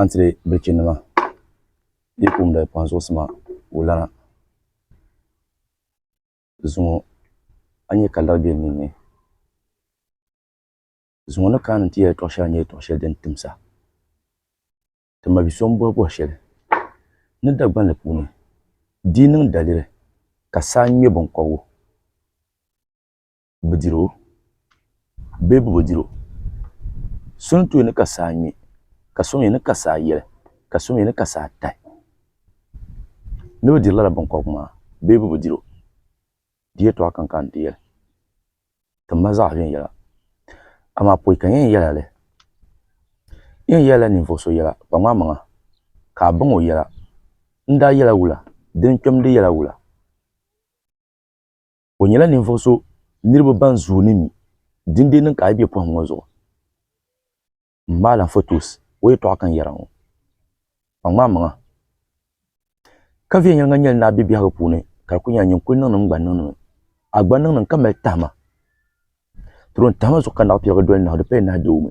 Antiri bilichi nima yi kumda kpaŋ zuɣusima ka o lana zuŋɔ a ni nya ka lari be n ninni zuŋɔ ni kana ni ti yɛli tɔɣ'shɛli nyɛla tɔɣ'shɛli din timsa ti ma bi'so m-bɔhi bɔhi shɛli ni Dagbani puuni di yi niŋ daliri ka saa ŋme biŋkɔbigu bi diri o bee bi bi diri o so ni tooi ni ka saa ŋmɛ ka so mii ni ka saa yɛli ka so mii ni ka saa tahi ni bi diri lala binkobiri maa bee bi bi diri o di yɛtɔɣa kam ka n ti yɛli ti mali zaɣ viɛnyɛla amaa pɔi ka n yɛn yɛli a li n yɛn yɛlila ninvuɣu so yɛla kpa ŋmaa maŋa ka a baŋ o yɛla n daa yɛla wula dini kpɛmdi yɛla wula O nyɛla ninvuɣu so niriba ban zooi ni mi. Dindee niŋ ka a yi be pɔhim ŋɔ zuɣu m-maali a fotos o yɛtɔɣa kan yɛra ŋɔ. Kpaŋ maa maŋa. Ka viɛnyɛliŋga nyɛli ni a be biɛhigu puuni ka di kuli nyɛla nyin kuli niŋnim gba n-niŋdi mi. A gba niŋnim ka mali tahima. Tirion tahima zuɣu ka naɣipiɛligu doli nahu di paya nahi deei o mi.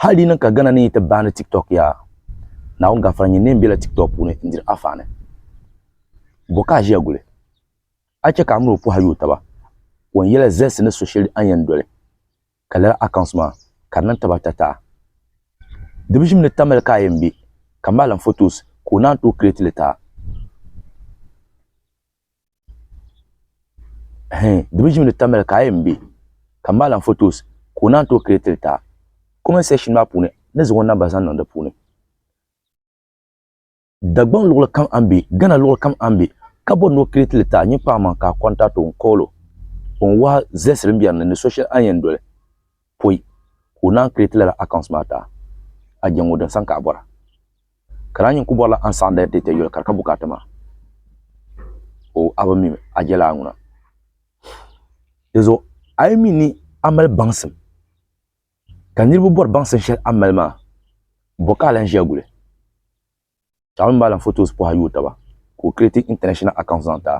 Hali di niŋ ka Ghana ni yi ti baani TikTok yaa, Naawuni gafara nyini neen bela TikTok puuni n diri afaani. Bo ka a ʒiya guli? A chɛ ka a mini o pɔha yooi taba? O ni yela zɛlsi ni so sheli a ni yen doli, ka lala accounts maa ka di niŋ taba ata taha. Di bi ʒim ni Tamil ka a yen be, ka maalim photos ka o naan tooi create li taha. di mii ʒimi di tamya ka a yɛn bɛ ka n bahi lahi fotos ka o naan tooi kirɛt li taa kɔment seekshn maa puuni ni zaŋ o namba zaŋ niŋ di puuni Dagbaŋ luɣuli kam a ni bɛ gana luɣuli kam a ni bɛ ka bori ni o kirɛt li taa nyini paɣa maŋ ka a kɔntaɣiti o n koolo o ni wahi zilisi din biɛni ni ni so shɛli a ni yɛn doli poi ka o naan kiriti lala accounts maa taa a je ŋɔ din san ka a bɔra. Ka daa nyin ku bɔrila a ni saɣindi a data yoli ka di ka bukaata maa. Oh, a bi mim a jɛlaa ŋuna. Di zuɣu a yi mi ni a mali baŋsim ka niriba bɔri baŋsim shɛli a mali maa, bɔ ka a lan ʒiya guli? Chaŋ mi malim photos pɔha yooi taba ka o create international account zaŋ ti a.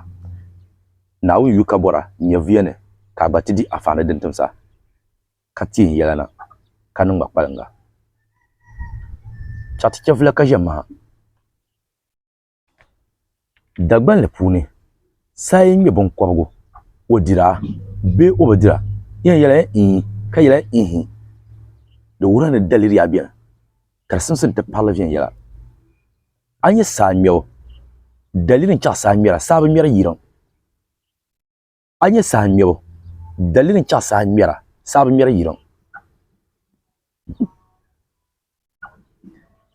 Naawuni yu ka bɔra nyɛvuya ni ka a gba ti di afaani din tim sa ka teei n yɛla na ka niŋ ma kpaliŋga. Chaɣiti chɛvula ka ʒe maha. Dagbanli puuni, saa yi ŋme biŋkɔbigu, o dira bee o bi dira, yi ni yɛli ii ka yɛli ihi, di wuhirila ni daliriya beni, ka di simsi n-ti paɣiri li viɛnyɛla. A nya saa ŋmɛbu, daliri n-chaɣi saa ŋmɛra, saa bi ŋmɛri yiriŋ. a nyɛ saha ŋmɛbu daliri n chaɣ saha ŋmɛra saha bi ŋmɛri yiliŋ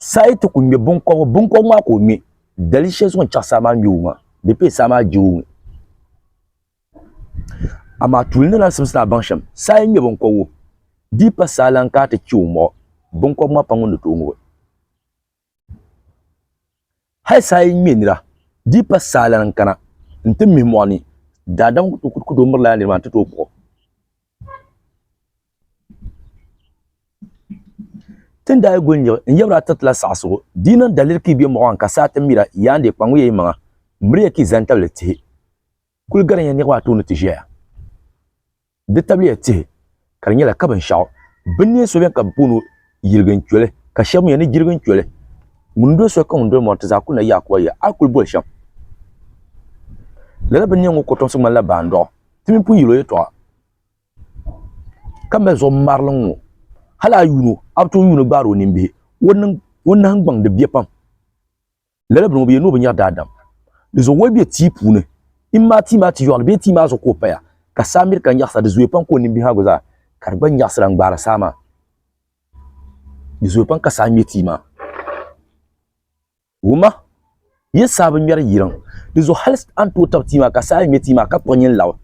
saha yi ti ku ŋmɛ binkɔbigu binkɔbigu maa ka o ŋmɛ dali shɛli zuɣu n chaɣ saha maa ŋmɛbu maa di pee saha maa jibu mi amaa tuuli ni lan simsi ni a baŋ shɛm saha yi ŋmɛ binkɔbigu di yi pa saha lan ka a ti chɛ o muɣu binkɔbigu maa pam ŋun ni tooi ŋubi Hali saa yi ŋme nira, di yi pa saa lana n-kana nti mihi mɔɣu ni, daadam ku tooi mirila yaa nir maa nti tooi kpuɣ o. Ti ni daa yi guli nyiɣi n yabra tiriti la saɣisigu, di yi niŋ daliri ka yi be mɔɣu maa ni ka saa ti mira, yaandeei kpaŋmiya yimaŋa, miriya ka yi zani tabili tihi. Kuli garinya niriba ata ni ti ʒɛya n ti tabili ya tihi ka di nyɛla ka binshaɣu bini neen so beni ka bɛ booni o yirigin choli ka sheba mee ni jirigin choli ŋun doli soli ka ŋun doli mori ti zaa kuli na yaakuba yiya a kuli boli shem lala bini neen ŋɔ kotomsi ŋmanila baandoɣu ti mini pun yili o yɛltɔɣa ka mali zuɣu ŋmarili ŋɔ hali a yuuni o a bi tooi yuuni gbaari o nimbihi o nahingbaŋ di biɛ pam. Lala bini ŋɔ bi yɛli ni o bi nyɛri daadam. Di zuɣu woli be tia puuni. Im maa tia maa ti yɔɣili bee tia maa zuɣu ka o paya, ka saa miri ka nyaɣisa. Di zooya pam ka o nini bihiagu zaa ka di gba nyaɣisira n-gbaari saa maa. Di zooya pam ka saa ŋme tia maa. Wuma, yi saa bi ŋmeri yiriŋ. Di zuɣu hali a ni tooi tabi tia maa ka saa yi ŋme tia maa ka kpuɣi nyin labi.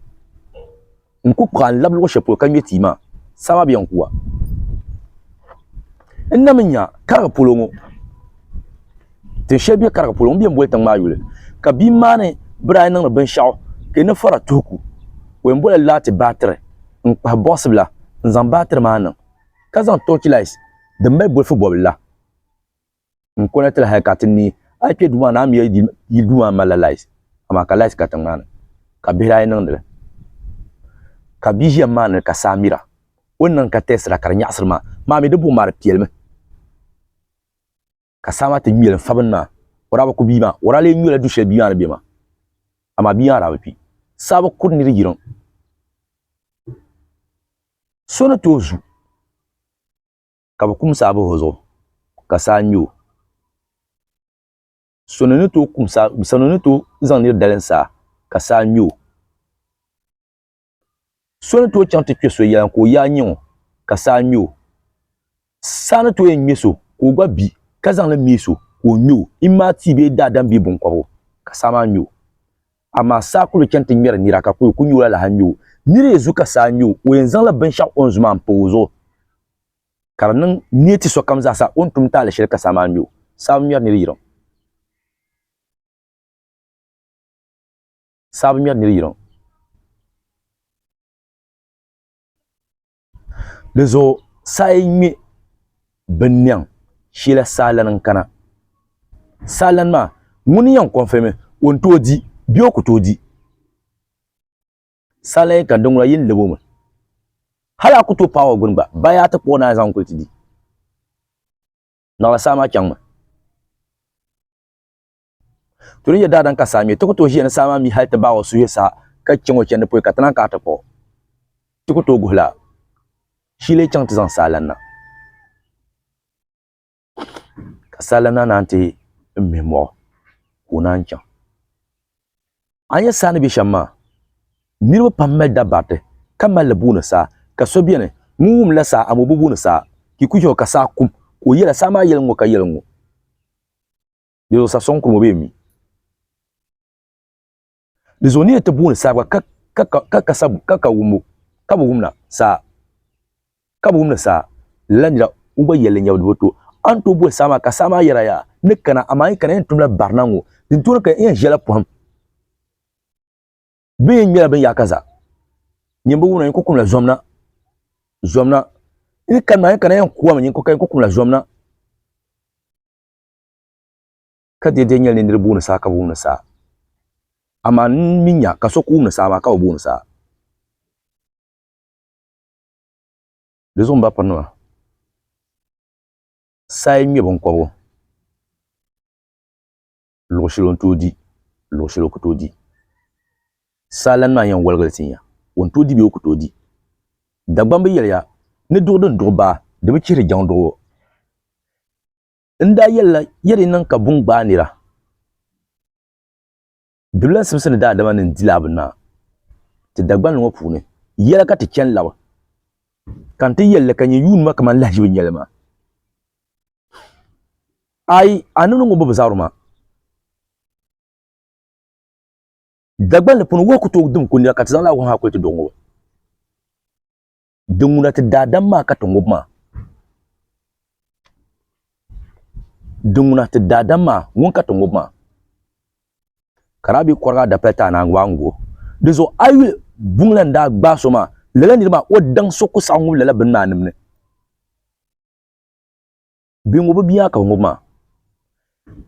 n ku kpuɣi a n lab luɣ shɛli polo ka ŋme tia maa, saha bɛ yɛn ku a. N na mi nya Kariga polo ŋɔ, tin shɛli be Kariga polo ŋɔ bɛ yɛn boli tiŋ maa yuli, ka bia maa ni biri a yi niŋdi binshɛɣu ka yi ni fara tuhiku, o yɛn bolila laati baatiri n-kpahi bɔɣisi bila n-zaŋ baatiri maa niŋ, ka zaŋ tɔɔchilaati din mali bolifu bɔbili la. n kɔna ti la hali ka ti ni a kpe duu maa ni a mi yi duu maa malila laayisi amaa ka laayisi ka tiŋmaani ka bihi daa yi niŋdi li ka bia ʒiya maa ni ka saa mira o ni niŋ ka tɛɛsira ka di nyaɣisiri maa maa mi di buɣim maa di piɛlimi ka saa maa ti ŋmeli n fa bini maa o daa bi ku bia maa o daa lee nyɔla du shɛli bia maa ni be maa amaa bia maa daa bi kpi saa bi kuri ni di yiriŋ so ni tooi zu ka bɛ kum saa bahi o zuɣu, ka saa ŋme o. Sɔno ni tooi kum saa, sɔno ni tooi zaŋ nir dalim saa, ka saa ŋme o. So ni tooi chaŋ ti kpe so yɛla ka o yaa nyiŋ o, ka saa ŋme o. Saa ni tooi yɛn ŋme so ka o gba bi, ka zaŋ li me so ka o ŋme o, imaa tia bee daadam bee biŋkɔbigu, ka saa maa ŋme o. Amaa saa kul chani ti ŋmɛri nira, ka kul ku nyooi alaha ŋme o. Nir yi zu ka saa ŋme o, o yɛn zaŋla binshɛɣu o ni zu maa m-pa o zuɣu, ka di niŋ niɛ ti sokam zaa sa o ni tum taali shɛli ka saa maa ŋmɛ o. Saa bi ŋmɛri nir yiriŋ. Saa bi ŋmɛri nir yiriŋ. Dinzuɣu saa yi ŋmɛ binnɛŋ shɛla saa lani n-kana. Saa lani maa, ŋuni n-yɛn kɔnfirimi o ni tooi di bee o ku tooi di? Sali ka di ŋuna yi ni lab o mi. Hal a ku tooi paai o gbini gba, ba yaa ti kpuɣi naai zaŋ kuli ti di. Naɣila saa maa chaŋmi. To din yɛli daadam ka saa mi, ti ku tooi ʒiya ni saa maa mi hal ti baai o suhi sa ka chaŋ o chandi polo ka ti naan kana ti kpuɣi. Ti ku tooi guhila, Shi yi leei chaŋ ti zaŋ saa lan na. ka sala na naan ti mihi mɔɣu ka o naan chaŋ a nyɛ saa ni bɛ shɛm maa niriba pam mali dabariti ka mali li booni saa ka so bɛni ŋun wum la saa amoo bi booni saa ka i ku chɛ o ka saa kum ka o yɛla saa maa yɛli ŋ-ŋɔ ka yɛli ŋ-ŋɔ di zuɣu sa sɔŋ kurum o bee mi Di zuɣu ni yɛn ti booni saa gba ka ka wumbu ka bi wumna saa ka bi wumni saa lala nira ŋun gba yɛlli nyɛbu di bi to a ni tooi boli saa maa ka saa maa yɛra yaa ni kana amaa yi kana yɛn tumla barina ŋo din tooni ka yɛn ʒɛla poham bi yɛn ŋmɛla bin yaaka zaa nyini bi wumna yinko kumla zomna zomna yi kana yɛn kana yɛn kuwami yinko ka yinko kumla zomna ka di yɛn nyɛla ni niriba wumdi saa ka bi wumdi saa amaa n mi nya ka so ku wumdi saa maa ka bi bi wumdi saa di zuɣu m ba pirinima saa yi ŋme binkɔbigu luɣ shɛli o ni tooi di luɣ shɛli o ku tooi di saa lana maa yɛn wɔligili ti nya o ni tooi di bee o ku tooi di Dagbamb yɛliya ni duɣu din duɣu baa di bi chihiri jaŋ duɣu o. N daa yɛlila, ya di niŋ ka buŋ gbaai nira? Dibila simsi ni daadama ni n-di laa bi naa ti Dagbani ŋɔ puuni, yɛla ka ti chani labi, ka n ti yɛli li ka nyɛ yuuni ma kaman lahiʒibu n-nyɛ li maa. Ayi, a ni niŋ o bobu zabiri maa, Dagbani puuni wahu ku tooi dim ko nira ka ti zaŋ laa wahu maa kuli ti doo ŋɔ. Din ŋuna ti daadam maa ka ti ŋub maa. Din ŋuna ti daadam maa ŋun ka ti ŋub maa. Ka daa be kɔriga adapali ti anaangu a ni gu o. Di zuɣu a yi yuli buŋ la ni daa gbaai so maa, lala nir maa o daŋ so ku saɣi ŋub lala bini maa nim ni. Bɛ ŋubi bia ka bɛ ŋubi maa.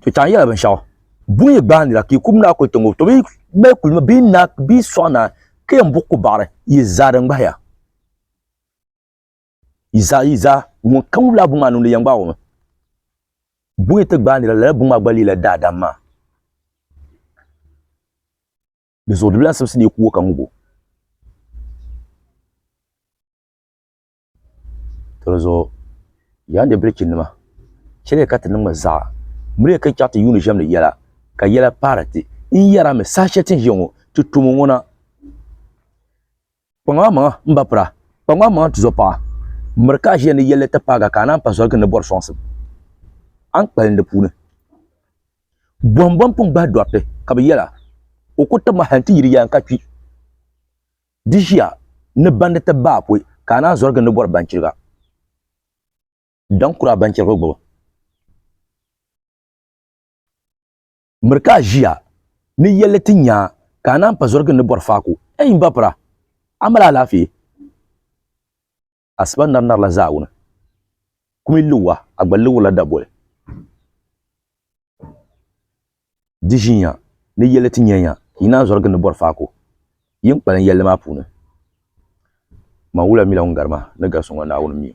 To chaŋ yɛla binshɛɣu. Buŋ yi gbaai nira ka yi kub naa kuli ti ŋubi, to bi mali kuli mi bɛ yi naa bɛ yi sɔɣi naa ka yɛn buɣi ku baɣiri yi zaa din gbahi ya. Yi zaa yi zaa ŋun ka ŋubila buŋ maa niŋdi yɛn gbaai o mi. Buŋ yi ti gbaai nira lala buŋ maa gba leela daadam maa. Di zuɣu di bi lahi simsi ni yi ku o ka ŋubi o. to di zuɣu yaa nyɛ bilichi nima chɛliya ka ti niŋ zaa miriya ka chɛŋ ti yuundi ʒɛmdi yɛla ka yɛla paari ti n yɛra mi saha shɛli ti ni ʒiya ŋɔ ti tumo ŋɔ na kpaŋ a maŋa n ba pira kpaŋ a maŋa n tizo paɣa miri ka a ʒiya ni yɛlli ti paaga ka a naan pa zoligi ni bɔri sɔŋsim a ni kpalim di puuni bɔhim bɔni pun gbahi dɔriti ka bi yɛla o ku tabimi hali n ti yiri yaa n ka kpi Di ʒiya ni bandi ti baai poi ka a naan zɔrigi ni bɔri banchiriga daŋ kura banchirigu gbubu. Miri ka a ʒiya ni yɛlli ti nya ka a naan pa zɔrigi ni bɔri faaku. Ei m ba Pura! A mali alaafee? Asiba nari narila zaawuni, kumi liuwa a gba liurila daboli. Di ʒiinya ni yɛlli ti nyɛnya yi naan zɔrigi ni bɔri faako yin kpalim yɛlli maa puuni. Man wula mila ŋun gari ma ni gari so ŋɔ Naawuni mi o.